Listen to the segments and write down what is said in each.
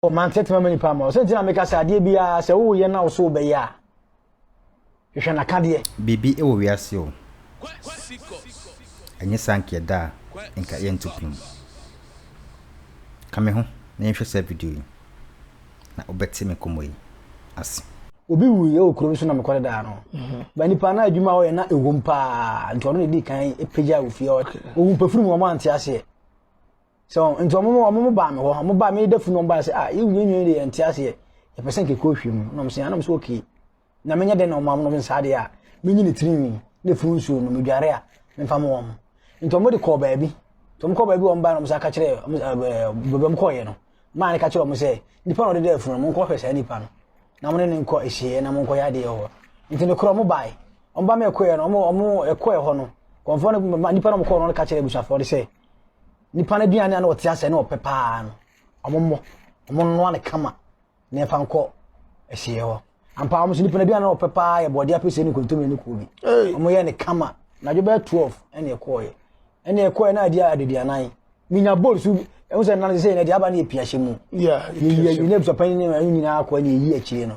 Oh, man tete mama nipa ma. Ɔsɛ nti na meka sɛ adeɛ biara sɛ woyɛ na wo so wobɛyɛ a hwehwɛ n'akadeɛ. Biribi wɔ wiase o. Ɛnyɛ saa nka ɛda a nka yɛnto pem. Ka me ho na yɛnhwɛ saa video yi na wobɛte me nkɔmmɔ yi ase. Obi wuiɛ wɔ kurom so na mekɔre daa no. Mhm. Ba nipa na adwuma ɔyɛ na ɛwom paa nti ɔno na ɛdi kan pagya wɔ fie ɔhu pafiri mu ɔmo ante aseɛ. So nti wɔn mo wɔn mo baa mi hɔ wɔn baa mi dɛfu na wɔn baa sɛ ah yi nwi nwi de yɛn ti aseɛ yɛ pɛ sɛ nkeke ohwɛ mu na wɔn sɛ anam sɛ okay na mi nyɛ dɛ na wɔn amu na wɔn saa deɛ a mi nyi ne tiri nwi ne funu nsuo no mi dware a mi nfa mo wɔn nti wɔn de kɔɔ baabi nti wɔn kɔɔ baabi wɔn baa na wɔn sɛ aka kyerɛ wɔn ɛɛ baabi wɔn kɔɔ yɛ no maa ne ka kyerɛ wɔn sɛ nipa na ɔde dɛ funu wɔn nkɔ hwɛ saa nipa no na wɔn ne ne nkɔ ehyeɛ na wɔn nkɔ yɛ adeɛ wɔ nti ne korɔ wɔn baa yi wɔn ba mi ɛkɔ yɛ no wɔn wɔn ɛkɔ yɛ hɔ no kɔnfɔ no nipa na wɔn kɔɔ no ka kyerɛ abusuafoɔ de sɛ nipa no aduane a na ɔte asɛ na ɔpɛ paa no ɔmo mmɔ ɔmo nnoa no kama na ɛfa nkɔ ɛhyeɛ hɔ ampa ɔmo so nipa no aduane a ɔpɛ paa yɛ bɔɔde apɛsɛ ne nkontomire ne koobi ɔmo yɛ ne kama na adwo bɛyɛ twelve ɛna ɛkɔɔyɛ ɛna ɛkɔɔyɛ na adi aduduanan minya bowl so ɛho sɛ nan sɛ ɛna ɛde aba ne yɛ pia hyɛ mu yɛ yɛ yɛ ne abusapɛn ne ɛho nyinaa akɔ ɛna ɛyi akyire no.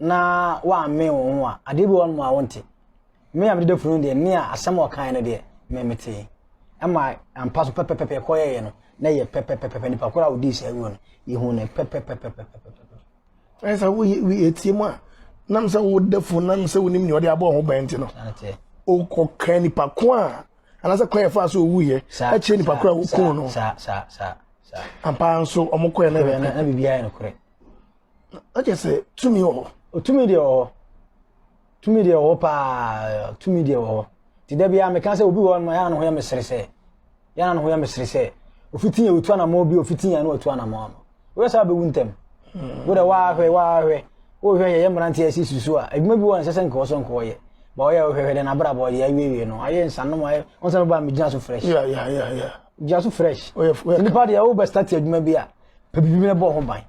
na woammee wo ho a adeɛ bi wɔnom a wonte me a mede dafunu deɛ ne a asɛm a ɔkaeɛ no deɛ memetee ɛma ampa so pɛpɛpɛpɛ ɛkɔyɛeɛ no na yɛ pɛpɛpɛpɛ nipa koro a wodii saa wuo no yɛhu no pɛpɛpɛpɛpɛpɛpɛ ɛne sɛ woyɛtie mu a nam sɛ woda funu nam sɛ wonim nea ɔde abɔ ho bɛn nti no wokɔka nipa ko a anaasɛ kwan yɛfa so ɔwuiɛ akyerɛ nipa koro a woku no ampa nso ɔmokɔɛ no biribiaa yɛ nokorɛ Ɛkyɛ sɛ tumi wɔ hɔ. Otumi deɛ wɔ hɔ. Tumi deɛ wɔ hɔ paa. Tumi deɛ wɔ hɔ. Ti da biara meka sɛ obi wɔ hɔ no yɛn ano ho yɛ mesere sɛ. Yɛn ano ho yɛ mesere sɛ. Ofiti yɛ otu anamɔ bi ofiti yɛn no otu anamɔ ano. Wɔyɛ sɛ abɛwu ntɛm. Hmm. Wo de wahwɛ wahwɛ. Wohwɛ yɛ yɛ mmeranteɛ si susu a adwuma bi wɔ nsɛ sɛ nkɔɔ so nkɔɔ yɛ. Ba ɔyɛ wohwɛhwɛ dɛ n'abrabɔ ɔde awiewie no ayɛ nsanom ayɛ wɔn sɛ no ba megyina so fresh. Yeah, yeah, yeah, yeah. Gyina so fresh. Nipa deɛ wobɛstate adwuma bi a Pɛpɛpɛ bɔ ho ban.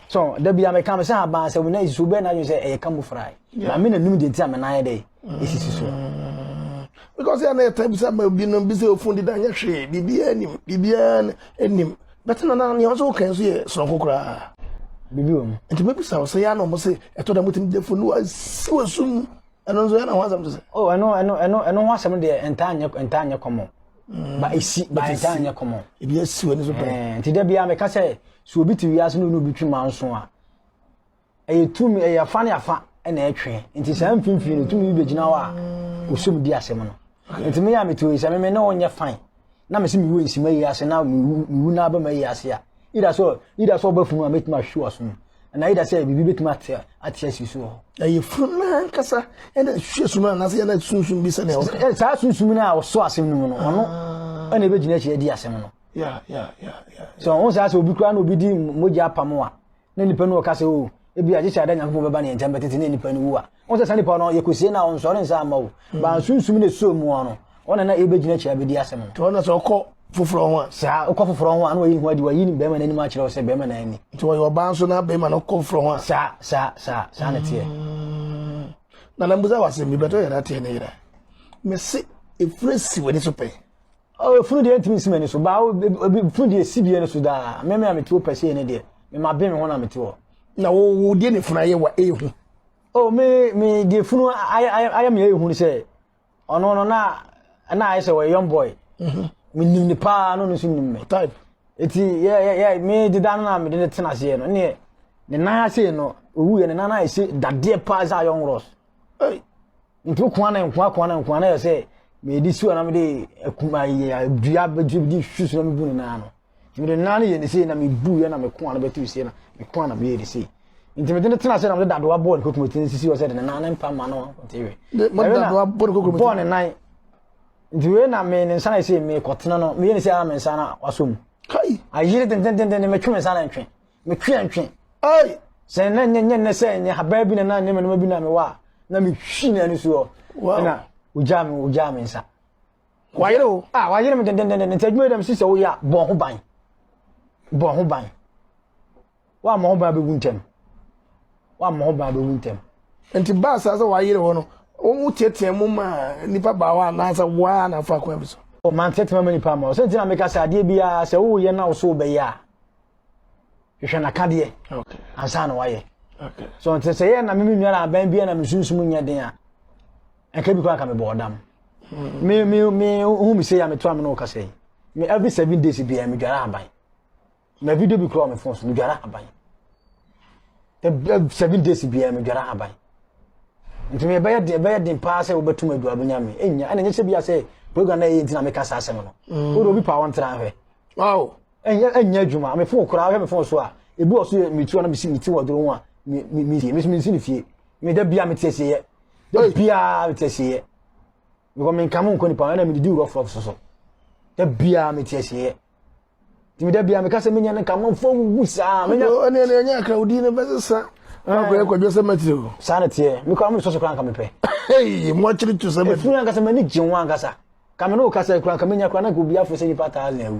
So da bi ameka me sɛ aban sɛ wo nan sisi so bɛn na adwene sɛ ɛyɛ ka mu fry. Na me na nim deɛ nti a me nan yɛ dɛ esisi so. Mm. Because yɛn na yɛ tɛbi sɛ ma bi no bi sɛ ofun dida nyɛ hwee biribiara nim biribiara nim bɛtɛ na na nea ɔsɛ ɔkan so yɛ soronko koraa. Bibi wɔ mu. Nti bɛbi sa ɔsɛ yɛn na ɔmo sɛ ɛtɔ da mo tɛm gya funu asi wɔ sum ɛno nso yɛn na ho asɛm te sɛ. Oh ɛno ɛno ɛno ɛno ho asɛm deɛ ntaa nyɛ ntaa nyɛ kɔmɔ. ba mm. esi ba ɛda nyɛ kɔmɔ ebi esi wɔ ne so pɛrɛ eh, nti dɛ bia mɛka sɛ so obi te wiase no obi twi ma nso a ɛyɛ tum ɛyɛ afa ne afa ɛna ɛtwe nti saa mfimfini no tum bi bɛgyina hɔ a mm. osum di asɛm no nti mi yɛ a mi te oyi sɛ mi ne wɔn nyɛ fan na mi si mi wu nsima yi ase na mi wu na abɛma yi ase a ida so ida so ɔbɛ funu a mi tuma ahwi wɔ so no Anaa yɛda sɛ biribi bɛtumi ate ate asi so wɔ hɔ. Na yɛfunu no ankasa ɛna ɛhwɛ sum no anaasɛ yɛna sunsum bi sɛnea wɔka. Saa sunsum no a ɔso asɛm no mu no ɔno ah. ɛna ɛbɛgyina akyiri adi asɛm no. So ɔho saa sɛ obi koraa na obi di mogya apam a na nipa no ɔka sɛ o oh, ebi agye sɛ ada nyankopɔn bɛba ne nkyɛn bɛtete ne nipa no wu a Wɔn sɛ saa nipa no yɛ kosie na ɔnsɔre nsa ama o. Mm. Ba nsunsum na esuo mu no, wɔn na ebegyina akyi abedi asɛm no. Nti wɔn na sɛ ɔkɔ foforɔ ho a. Saa ɔkɔ foforɔ ho a na wɔyi ne ho adi wɔyi ne bɛrima n'anim akyerɛ sɛ bɛrima na ani. Nti wɔyɛ ɔbaa nso na bɛrima no kɔ foforɔ ho a. Saa saa saa saa na teɛ. Mm. Na na mbusa wɔ asɛm bi bɛtɔ yɛn ateɛ ne yera. Mese efiri si w'ani so pɛn. Oh, funu deɛ ntumi nsi m'ani so baa obi funu deɛ si deɛ no so daa mmɛmɛ a mete hɔ pɛsɛ ne deɛ mema bɛn me ho na mete hɔ. na wo wo deɛ ne funu ayɛ wa ehu. o me me deɛ funu ayɛ ayɛ ayɛ me ehu sɛ ɔno no na na ayɛ sɛ ɔyɛ young boy mhm. me nim ne paa no no nso nim me type eti yɛ yɛ yɛ me deda no na me de ne tena aseɛ no ne ne nan ase no owu yɛ ne nan ayɛ sɛ dadeɛ paa sɛ ayɛ ɔnworɔs. Ntu kwan na nkoa kwan na nkoa na yɛ sɛ mede si na mede akuma yɛ dua bɛdua de su so na mebu ne nan no nti mede nan no yɛ ne sei na mebu yɛ na meko a no bɛtu sei na meko a na meyɛ ne sei nti mede ne tena sɛ na mede dadoa bɔɔ ne kokom ti nsisi hɔ sɛ de ne nan ne mpa ma no nti wɛ bɔɔ ne nan nti wei na me ne nsa na ɛsɛ mekɔtena no meyɛ ne sɛ a me nsa na wasɔ mu ayere dendendenden metwe me nsa na ntwe Me tweantwe. Ei! Sɛ na nyɛ nyɛ nnɛ sɛ nyɛ habaa bi na na nyɛ mɛnoma bi na mewɔ a, na mehwi na ani soɔ. Ɛna ogyaa me ogyaa me nsa. Wayere o. Ah, wayere me dendendenden. Nti adwuma yi dɛm si sɛ woyɛ a bɔ ho ban. Bɔ ho ban. Woammɔ ho ban bɛwu ntɛm. Woammɔ ho ban bɛwu ntɛm. Nti baa saa sɛ wayere hɔ no, woteatea mu ma nipa baa hɔ anaasɛ woa na afa kwan bi so? Ɔmanteatea ma nipa ma. Ɔsɛ nti na meka sɛ adeɛ biara sɛ woyɛ na wo so wobɛyɛ a, hwehwɛ n'akadeɛ ansa na wayɛ so nti sɛ yɛ na me nua na abɛn bi na me sunsum nyɛ den a ɛka bi kɔ aka me bɔ ɔdam hmm. me me me hu me sɛ ya me to am no ka sɛ me every seven days bi me dwara aban me video bi kura me phone so me dwara aban seven days bi me dwara aban nti me bɛyɛ den bɛyɛ den paa sɛ wobɛtum adu abɛnya me ɛnya ɛna nyɛ sɛ bia sɛ program na ɛyɛ nti na meka saa asɛm no hmm. wode obi pa wɔntra hwɛ ɛnyɛ ɛnyɛ adwuma me fon koraa hwɛ me fon so a ebi wɔ so yɛ me tu na me si me ti wɔ doro ho a me me me sie me so me si ne fie me da bia me te asie yɛ da bia me te asie yɛ because me nka mo nkɔ nipa ɛna me didi wurɔ fɔlɔ soso da bia me te asie yɛ tìmí da bia me kasa me nya ne nka mo nfa wuwu saa me nya ɛne ɛne ɛnyɛ akra odi ne bɛ sesa akɔ yɛ kɔdwe sɛ mɛtiri o saa na teɛ me kɔ amu soso koraa nka me pɛ ee mo akyiri tu sɛ mɛtiri efunu ankasa mɛ ni gye ho ankasa kame no kasa kura kame nya kura na nka obi afo sɛ nipa taa na ewu